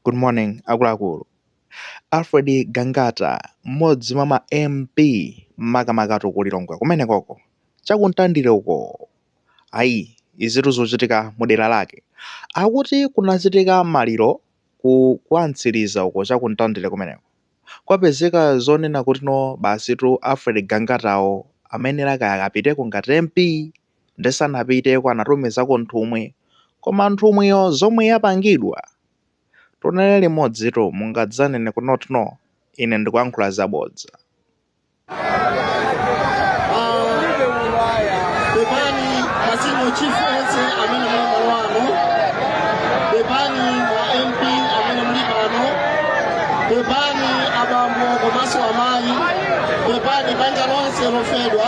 Good morning akuluakulu. Alfred Gangata mmodzi mwa ma MP makamakatu ku Lilongwe kumenekoko cha ku Mtandire uko ayi izitu zochitika mu dera lake akuti kunachitika maliro ku kwa Mtsiliza uko cha ku Mtandire kumeneko kwapezeka zonena kuti no basitu Alfred Gangatawo amayenera kaya akapiteko ngati MP nde sanapiteko anatumizako nthumwi koma nthumwiyo zomwe yapangidwa tionere limodzitu mungadzanene kunoti no ine ndikuyankhula zabodza. Pepani ma senior chief onse amene muli malo ano, pepani a MP amene muli pano, pepani abambo komanso amayi, pepani banja lonse lofedwa.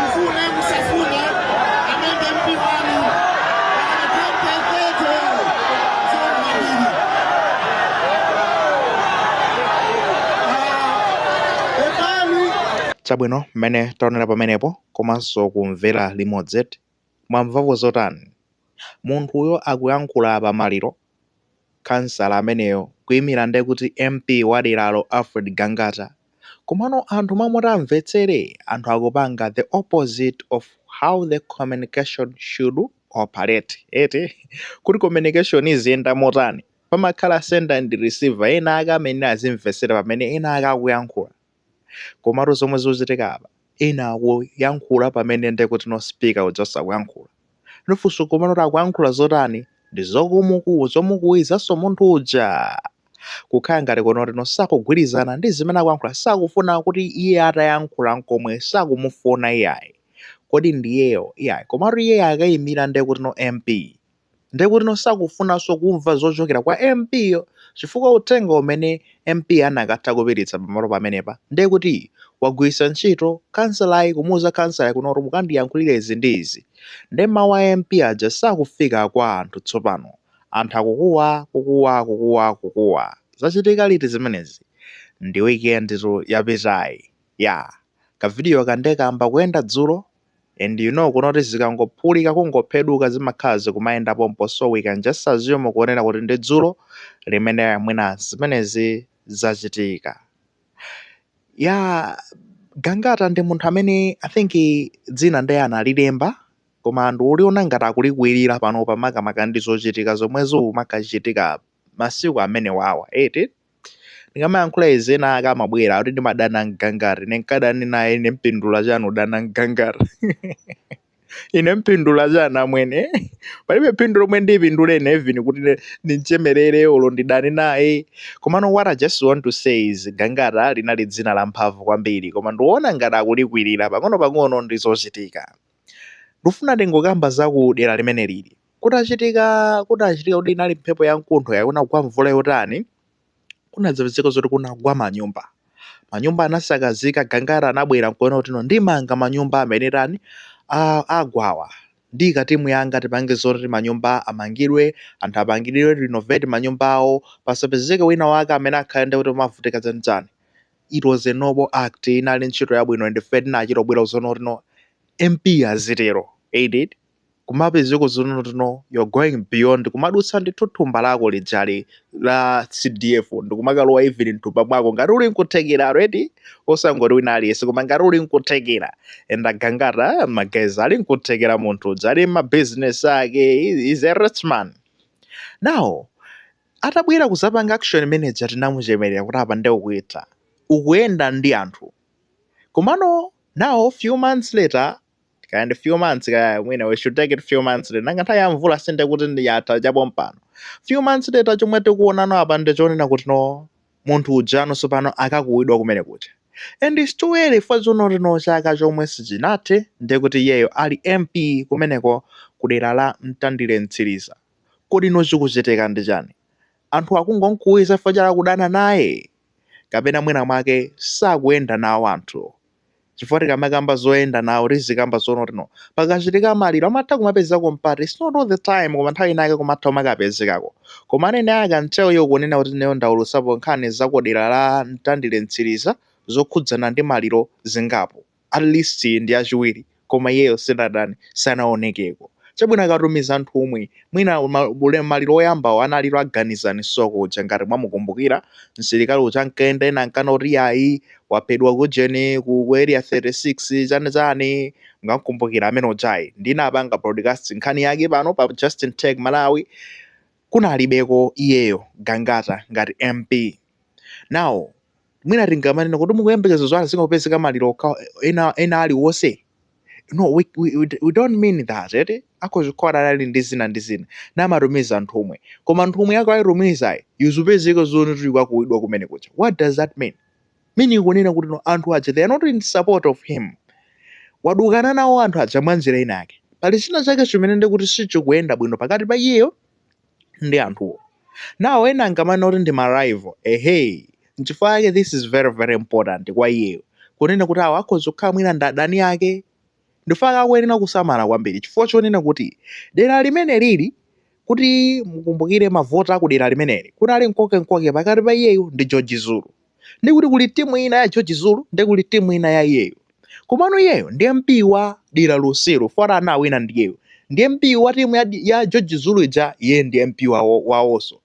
mufune musafune ameneyu ndi mp wanu pakana 2030 zoni mabiri pepani chabwino mmene taonera pamenepo komanso kumvera limodzi mwamvapo zotani munthuyo akuyankhula pa maliro khansala ameneyo kuimira nde kuti MP wa deralo Alfred Gangata komano anthu mmalo moti amvetsere anthu akupanga the opposite of how the communication should operate eti kuti communication iziyenda motani pamakhala sender and receiver ena ake amayenera azimvetsera pamene ena ake akuyankhula Komatu zomwe zikuchitika apa ena akuyankhula pamene ndekuti no speaker uja akuyankhula. Nafenso komano kuti akuyankhula zotani? Ndi zokumukuwi zomukuwizanso munthu uja. Kukhala ngati kunoti no sakugwirizana ndi zimene akuyankhula sakufuna kuti iye atayankhula nkomwe sakumufuna iyayi. Kodi ndiyeyo iyayi. Komatu iyeyo akayimira ndekuti no MP. ndiye kuti no sakufunanso kumva zochokera kwa MP yo chifukwa uthenga umene MP anakatha kupititsa pamalo pamenepa ndiye kuti wagwiritsa ntchito khansalayi kumuuza khansalayi kunoti mukandiyankhulire izi ndi izi ndiye mawu a MP aja sakufika kwa anthu tsopano anthu akukuwa kukuwa kukuwa kukuwa zachitika liti zimenezi ndi weekendtu yapitayi ya kavidiyoka ndiye kayamba kuyenda dzulo and you know kunoti zikangophulika kungopheduka zimakhala zikumayenda pompo so we can just assume kuonera kuti ndi dzulo limene mwina zimenezi zachitika ya gangata ndi munthu amene i think dzina ndiye analilemba koma ndikuona ngati akulikwilira panopa makamaka ndi zochitika zomwe zikuchitika masiku amene wawa eti Ndikamayankhula izi ena ake amabwera kuti ndimadana mGangata ine nkadani naye ine mpindula chani udana mGangata ine mpindula chani amwene palibe phindu lomwe ndipindule ine even kuti ne- ndimchemerere olo ndidani naye komano what i just want to say is Gangata linali dzina la mphamvu kwambiri koma ndiona ngati akulikwirira pang'ono pang'ono ndi zochitika ndifuna ndingokamba za ku dera limene lili Kutachitika, kutachitika kuti inali mphepo ya mkuntho ya kunagwa mvula yotani, kunadzapezeka zoti kunagwa manyumba. Manyumba anasakazika, Gangata anabwera nkuona kuti no ndimanga manyumba amene tani a- agwawa. Ndi katimu yanga tipange zoti manyumba amangidwe, anthu apangidwe renovate manyumba awo, pasapezeke wina wake amene akhale nde kuti kumavutika chanichani. It was a noble act, inali ntchito yabwino and ife tinachita bwino zonena kuti no MP azitero. Ain't it? kumapezeka zonena kuti no you're going beyond kumadutsa ndi thumba lako lijali la cdf ndikumakalowa even mthumba mwako ngati uli nkuthekera already osangoti wina aliyense koma ngati uli nkuthekera and agangata ma guys ali nkuthekera munthu uja ali mabusiness ake is a rich man now atabwera kuzapanga action imene ija tinamuchemerera kuti apa nde ukuitha, ukuyenda ndi anthu komano now few months later kaya ndi few months kaya mwina we should take it few months later nanga nthawi ya mvula sinde kuti ndi yatha cha pompano few months later chomwe tikuonano apa ndi chonena kuti no munthu ujano sopano akukuwidwa kumene kuja and it's too early for zonena kuti no chaka chomwe sichinathe nde kuti iyeyo ali mp kumeneko kudera la mtandire mtsiliza kodi no chikuchitika ndi chani anthu akungonkuwiza chifukwa chakudana naye kapena mwina mwake sakuyenda nawo anthu chifukwa tikamakamba zoyenda nawo tizikamba zonena kuti no pakachitika maliro amatha kumapezekako mpata its not all the time koma nthawi inayake kumatha kumakapezekako koma nenekha mtcheu iwo kunena kuti neyo ndaulusapo nkhani za kudera la mtandire mtsiliza zokhudzana ndi maliro zingapo at least ndi achiwiri koma iyeyo sanatani, sanaonekeko. Chabwino akatumiza nthumwi mwina ma- ule- maliro oyambawo anali a Ganizani Soko uja ngati mwamukumbukira msilikali uja ankayenda ena ankana kuti ayi waphedwa kujeni ku ku area 36 chani chani ngamkumbukira amene ujayi ndinapanga broadcast nkhani yake pano pa Justin Tech Malawi kunalibeko iyeyo Gangata ngati MP now mwina tingamanene kuti mukuyembekeza zoti azingopezeka maliro okha ena ena aliwonse no we, we, we we don't mean that eti akhoza kukhala anali ndi zina ndi zina namatumiza nthumwi koma nthumwi yake ayitumizayi yizipezeka zoti ikukuwidwa kumene kuja what does that mean meaning kunena kuti no anthu aja they are not in support of him wadukana nawo anthu aja mwa njira ina yake pali china chake chimene ndikuti sichikuyenda bwino pakati pa iyeyo ndi anthuwo nawo ena angamana kuti ndi marival ehe nchifukwa yake this is very very important kwa iyeyo kunena kuti awo akhoza kukhala mwina ndi adani ake in fact akuyenera kusamala kwambiri chifukwa chonena kuti dera limeneli kuti mukumbukire mavoti akudera limeneli kunali nkoke nkoke pakati pa iyeyo ndi george zulu ndi kuti kuli timu ina ya George Zulu ndi kuli timu ina ya iyeyo komano iyeyo ndi MP wa dera lonselo for anawina ndiyeyo ndi MP wa timu ya, ya George Zulu ija iye ndi MP wawo wawonso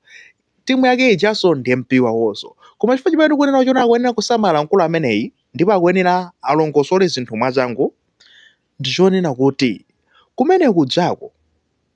timu yake ijanso ndi MP wawonso koma chifukwa chimene tikunena kuti no akuyenera kusamala mkulu ameneyi ndipo akuyenera alongosole zinthu mwachangu ndi chonena kuti kumene kujako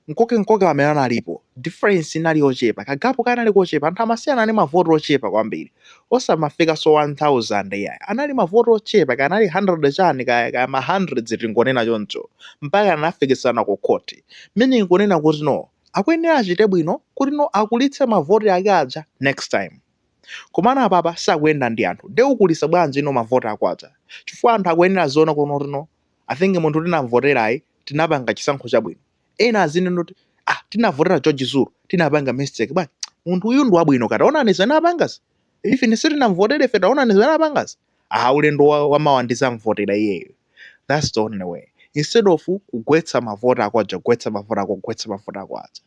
nkoke-nkoke amene analipo, difference inali yochepa, ka gap kanali kochepa, anthu amasiyana ndi ma vote ochepa kwambiri, osamafikanso 1000 iyayi, anali ma vote ochepa, kaya anali 100 chani kaya, kaya ma hundreds tingonena choncho, mpaka anafikitsana ku court, meaning kunena kuti no, akuyenera achite bwino kuti no akulitse ma vote ake aja next time. komano apapa sakuyenda ndi anthu nde ukulitsa bwanji no mavoti ako aja chifukwa anthu akuyenera aziona kuti no i think munthu tinamvoterayi tinapanga chisankho chabwino ena azinena kuti ah tinavotera george zulu tinapanga mistake bwanji munthu uyu ndi wabwino katawonani zimene apangazi ife ine sitinamvotere ife taonani zimene apangazi ah ulendo wa- wamawa ndizamvotera iyeyo that's the only way instead of kugwetsa mavoti ako aja kugwetsa mavoti ako kugwetsa mavoti ako aja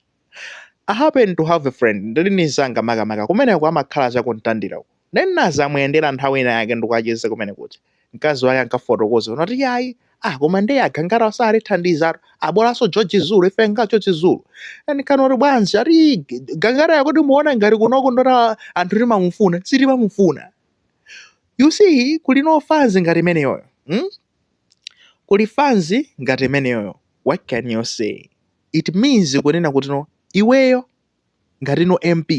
I happen to have a friend ndili ndi mzanga makamaka kumeneko amakhala cha ku Mtandira uko nde ndinadzamuyendera nthawi ina yake ndikucheza kumene kuja mkazi wake ankafotokoza anati yayi ah koma ndiye a Gangata sakutithandizatu bolanso George Zulu ife nga George Zulu ndinkati bwanji ati Gangata yokuti muona ngati kunoko ndota anthu timamufuna sitimamufuna you see kuli no fans ngati imeneyoyo hmm? kuli fans ngati imeneyoyo what can you say it means kunena kuti no iweyo ngati no mp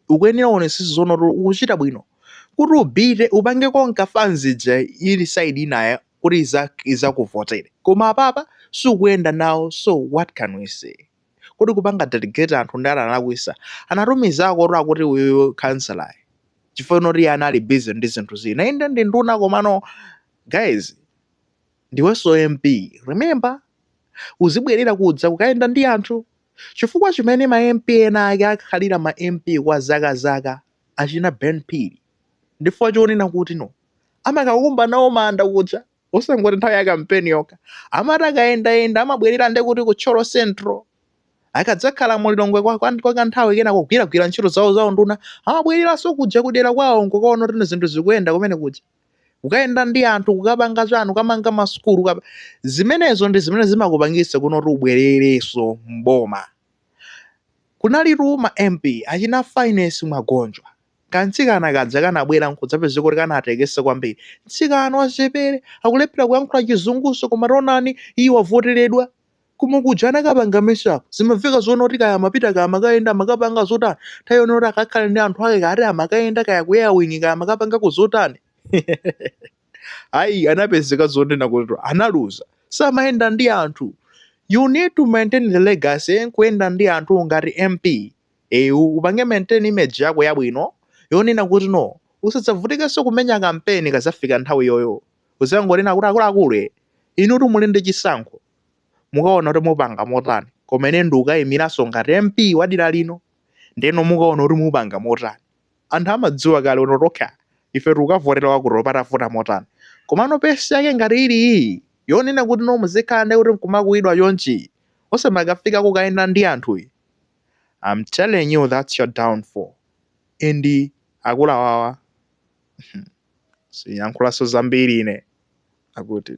ukuyenera uonesese zonoti ukuchita bwino kuti upite upange conquer fans ija ili side inayo kuti izak izakuvotere koma apapa sukuyenda nawo so what can we say kodi kupanga delegate anthu nde analakwisa? Anatumizako akuti uyuyu councilloryu chifukwa choti iye anali busy ndi zinthu zina inde ndi nduna komano guys Ndiweso MP remember? Uzibwelera kudza kukayenda ndi anthu. Chifukwa chimene ma MP ena ake akhalira ma MP kwa zaka zaka achina Ben Phiri ndifukwa chonena kuti no amakakumba nawo manda kuja osangoti nthawi ya kampeni yokha amati akayendayenda amabwelera nde kuti ku Thyolo Central akadzakhala mu Lilongwe kwa, kwa, kwa kanthawi kena kugwiragwira ntchito zawo za unduna amabweleraso kuja kudera kwawo nkukaona kuti zinthu zikuyenda kumene kuja. kukayenda ndi anthu kukapanga chanu kukamanga masukulu kukapa- zimenezo ndi zimene zimakupangitsa kunena kuti ubwerereso mboma kunalitu ma mp achina finance mwagonjwa kantsikana kaja kanabwera nkudzapezeka kuti kanatekesa kwambiri mtsikana wachepere akulephera kuyankhula chizunguso koma tonani iye wavoteredwa Koma kuja anakapanga mess up zimamveka zonena kuti kaya amapita kaya amakayenda amakapanga zotani nthawi yonena kuti akakhale ndi anthu ake kaya ati amakayenda kaya ku airwing kaya amakapangako zotani ayi anapezeka zonena kuti analuza samayenda ndi anthu you need to maintain the legacy nkuyenda ndi anthu ngati mp you upange maintain image yako yabwino yonena kuti no usadzavutikenso kumenya kampeni ikazafika nthawi yoyiyo uzangonena kuti akuluakulu e, inutu muli ndi chisankho mukaona kuti mupanga motani koma ine ndikukayimiranso ngati mp wa dera lino ndeno mukaona kuti mupanga motani anthu amadziwa kale no tokha ife tikukavotera wakuti patavuta motani komano pesi yake ngati ili iyi yonena kuti no muzikhala ndi kuti nkumakuidwa chonchi osamakafika kukayenda ndi anthu iyi I'm telling you that's your downfall and akulawawa siyankhulanso zambiri ine akuti